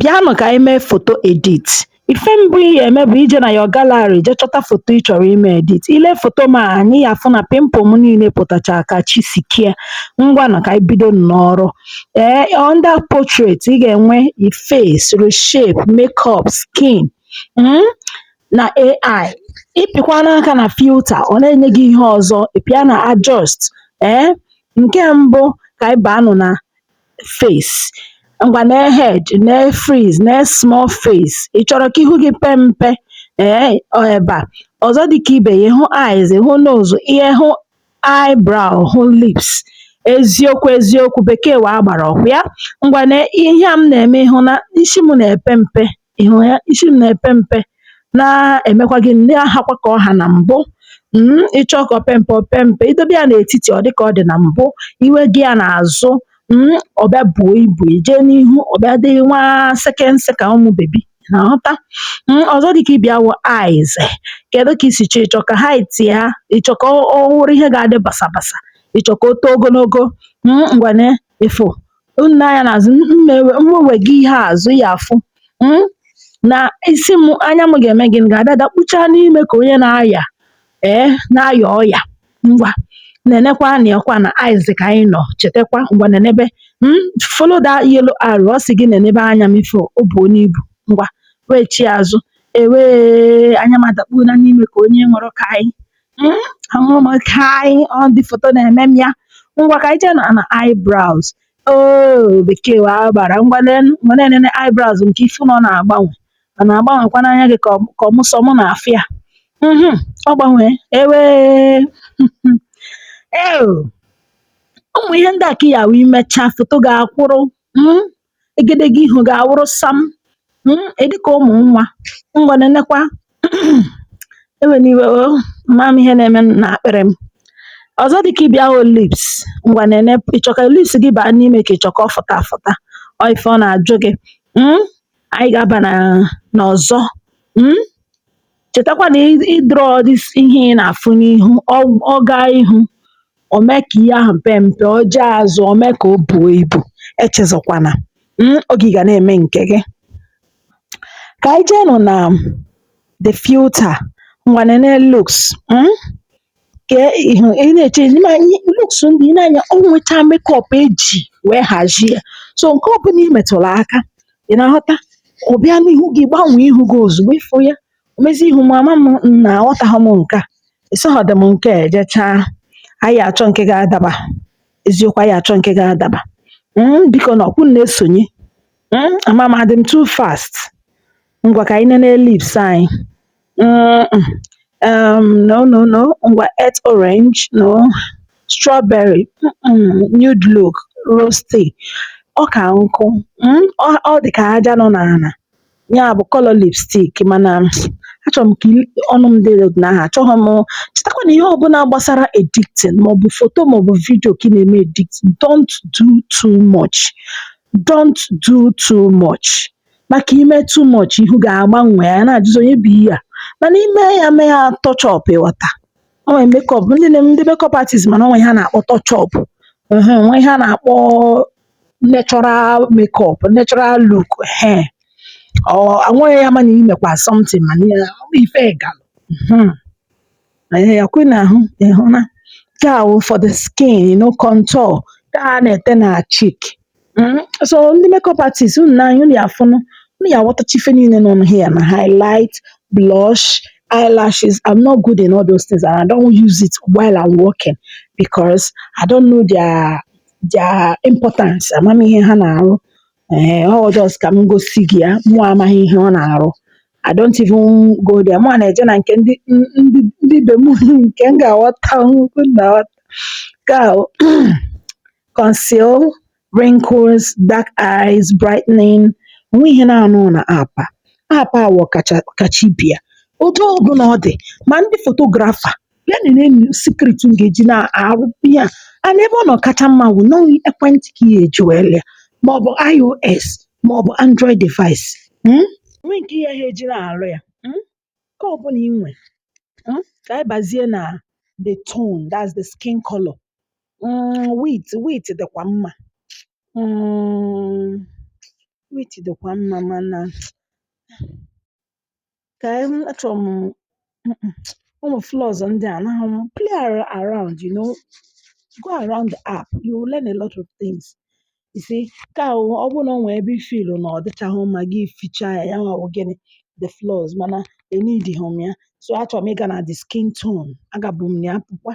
Bịanụ ka anyị mee foto edit. Ife mbụ ị ga-eme bụ ije na your gallery jee chọta foto ị chọrọ ime edit. I lee foto m a anya, ị ya-afụ na pimple m niile pụtacha ka chi si kee. Ngwanụ ka anyị bido n'ọrụ. Ee, under portrait, ị ga-enwe i face, reshape, makeup, skin, mm, na AI. Ị pịkwanụ aka na filter, ọ na-enye gị ihe ọzọ. Ị pịa na adjust. Ee, nke mbụ ka anyị baanụ na face, ngwa nee head, nee freeze, nee small face, ị chọrọ ka ihu gị pee mpe ee ọ ebe a ọzọ dịka ibe ya hụ eyes hụ nose ihe hụ eyebrow hụ lips eziokwu eziokwu bekee wụ agbara ọkwa ya ngwa nee ihe a m na-eme ị hụ na isi m na-epe mpe ị hụ ya isi m na-epe mpe na-emekwa gịnị na-ahakwa ka ọ ha na mbụ mm, ị chọọ ka o pee mpe o pee mpe i dobe ya n'etiti ọ dị ka ọ dị na mbụ i wega ya n'azụ mm, ọ bịa buo ibu i jee n'ihu ọ bịa dị nwa sekense ka ụmụ baby na-aghọta mm, ọzọ dị ka ibe ya wụ eyes kedu ka i si chọọ ị chọ ka height ya ị chọ ka ọ wụrụ ihe ga-adị basabasa ị chọ ka o too ogologo mm, ngwa nee ị fụ na anya n'azụ m wega ihe azụ ị ya-afụ hmm? na isi m anya m ga-eme gịnị ga-ada dakpuchaa n'ime ka onye na-aya ee eh, na-aya ọya ngwa nenekwa anya ọkwa na eyes ka anyị nọ chetakwa ngwa nenebe hmm? follow that yellow arrow ọ sị gị nenebe anya m ị fụ o buona ibu ngwa wechi azụ ewee anya m adakpuona n'ime ka onye nwere ka anyị hmm, ahụrụ m ka anyị ọ dị foto na-eme m ya ngwa ka anyị jee na na eyebrows oo bekee wụ agbara ngwa lee ngwa na-enene eyebrows nke ị fụ na ọ na-agbanwe ọ na-agbanwekwa n'anya gị ka ọ- ka ọ mụ sọ mụ na-afụ ya Mhm, ọ gbanwee ewe ee ụmụ ihe ndị a ka ị ya wee mechaa foto gị akwụrụ mm, egedege ihu gị awụrụ sam mm, ị dịka ụmụ nwa ngwa nenekwa ewena iwe o ama m ihe na-eme n'akpịrị m ọzọ dịka ibe ya wụ lips ngwa nene ị chọ ka lips gị baa n'ime ka ị chọ ka ọ fụta afụta ọ ife ọ na-ajụ gị mm, anyị ga-aba n'ọzọ mm, Chetakwa na ị draw this ihe ị na-afụ n'ihu ọ ọ gaa ihu o mee ka ihe ahụ pee mpe, o jee azụ o mee ka o buo ibu. Echezọkwana um oge ị ga na-eme nke gị. Ka anyị jeenụ na the filter ngwanụ nee looks um ka ị hụ ị na-eche ị ma ị looks ndị ị na-anya o nwecha makeup e ji wee hazie ya so nke ọbụla i metụrụ aka ị na-aghọta ọ bịa n'ihu gị gbanwee ihu gị ozugbo ịfụ ya o mezie ihu m ama m na aghọtaghị m nke a ịsọghọdị m nke a ejechaa anyị achọ nke ga-adaba eziokwu anyị achọ nke ga-adaba Mm, biko na ọ kwa unu na-esonye Mm, ama m adị m too fast Ngwa ka anyị nene lips anyị. Mm-mm. Um, no, no, no. Ngwa earth orange, no. Strawberry, mm-mm. Nude look, rusty. Ọ ka nkụ. Mm? Ọ, ọ dị ka aja nọ n'ala. Ya bụ color lipstick mana mm, achọrọ m ka i- ọnụ m dị otu ahụ achọghị m chetakwa na ihe ọbụla gbasara editing maọbụ foto maọbụ vidio ka ị na-eme editing don't do too much don't do too much maka i mee too much ihu gị agbanwee a na-ajụzi onye bụ ihe a mana i mee ya mee ya touch up ị ghọta o nwere makeup ndị na ndị makeup artist ma na o nwe ihe a na-akpọ touch up ehe o nwe ihe a na-akpọ natural makeup natural look ehe ọ anweghị ya mana i mekwa something mana ya ife ga mhm. Anyị yakwe n'ahụ ị hụ na nke a wụ for the skin you know contour ka a na-ete na cheek Mm, so ndị makeup artist unu nee anya unu ya-afụnụ unu ya-aghọtacha ife niile nọ here na highlight blush eyelashes I'm not good in all those things and I don't use it while I'm working because I don't know their their importance amaghị m ihe ha na-arụ Ee, ọ wụ just ka m gosi gị ya mụwa amaghị ihe ọ na-arụ I don't even go there mụwa na-eje na nke ndị ndị ndị be m nke m ga-aghọta nnukwu na aghọta ka ahụ conceal wrinkles dark eyes brightening o nweghị ihe na-anọghị na app a app a wụ ọkacha kacha ibe ya otu ọbụla ọ dị ma ndị fotografa bịa nene m secret m ga-eji na-arụ ihe a and ebe ọ nọ kacha mma wụ na ọ wụ ekwentị ka ị ga-eji wee lụa maọbụ iOS maọbụ Android device mm? o nwe nke ihe ha eji na-arụ ya mm? nke ọbụla i nwe mm? ka anyị bazie na the tone that's the skin color mm, wheat wheat dịkwa mma mm, wheat dịkwa mma mana ka anyị achọrọ m mm-mm, ụmụ flaws ndị a anaghị m play ar- around you know go around the app you will learn a lot of things you see nke ahụ ọ bụrụ na o nwee ebe ị feel-ụ na ọ dịchaghị mma gị fichaa ya ya nwa wụ gịnị the flaws mana e needighị m ya so achọrọ m ịga na the skin tone agabu m na ya pụkwa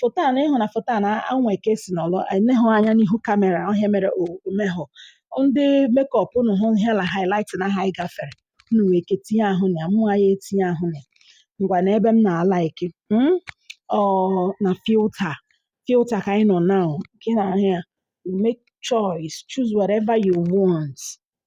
foto a na ịhụ na foto a na enwe ka esi nọlọ enehụ anya n'ihu kamera ọ ihe a mere omehụ ndị mekọp unu hụ ihe na highlight na ha anyị gafere unu nwee ike tinye ahụ na ya mụ anyị etinye ahụ na ya ngwa na ebe m na-alaịk mm? ọ na filta filta ka anyị nọ now nke na ahụ ya you make choice choose whatever you want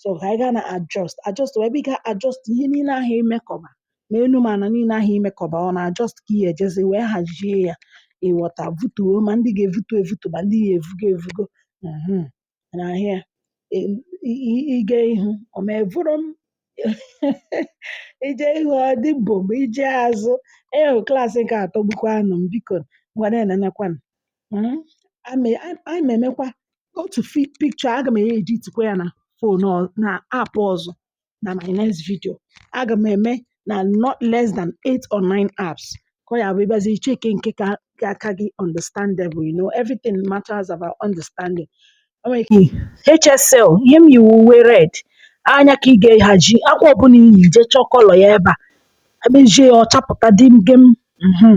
so ka anyị gaa na adjust adjust wụ ebe ị ga-adjust ihe niile ahụ imekọba ma enu ma ala niile ahụ imekọba ọ na adjust ka ị ga-ejezi wee hazie ya ịghọta vutuo ma ndị ga-evutu evutu ma ndị ga-evugo evugo mhm, na-ahụ ya ị- ị- ịga ihu ọ ma evuru m ije ihu ọ dị bụ ma ije azụ ee klaasị nke a atọgbukwanụ m biko ngwa na-enenekwanụ mm ame a anyị ma emekwa otu fi pikchọ aga m editikwa ya na fon ọ na app ọzọ na my next video aga m eme na not less than 8 or 9 apps ka ọ ya bụ ị bịazi i cheke nke ka ka aka gị understandable you know everything matters about understanding o nwere ike HSL ihe m yi wụ uwe red anya ka ị ga-ehaji akwa ọbụla i yi je chọọ kọlọ ya ebe a emezie ya ọ chapụta dị gem mhm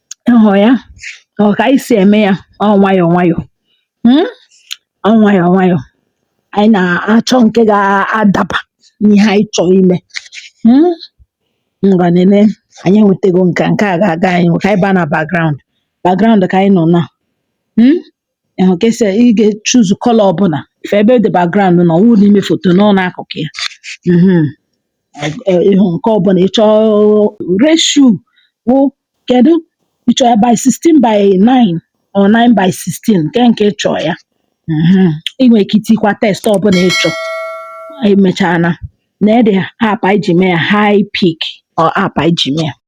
ị hụrụ ya ọ ka anyị si eme ya ọ nwayọọ nwayọọ mm? ọ nwayọọ nwayọọ anyị na-achọ nke ga-adaba n'ihe anyị chọrọ ime mm? ngwa nene anyị enwetago nke nke a ga-aga anyị ka anyị baa na background background ka anyị nọ na mm? ịhụ ka esi ị ga-echuzu kọlọ ọbụla i fe ebe dị background nọ wụ n'ime foto nọ n'akụkụ ya mhm. ịhụ nke ọbụla ị chọọ ratio wụ Kedụ ị chọrọ ya by 16 by 9 or 9 by 16 nke nke ị chọrọ ya Mhm. ị nwere ike itikwa text ọbụla ị chọrọ emechana na the app anyị ji mee ya Hypic ọ app anyị ji mee ya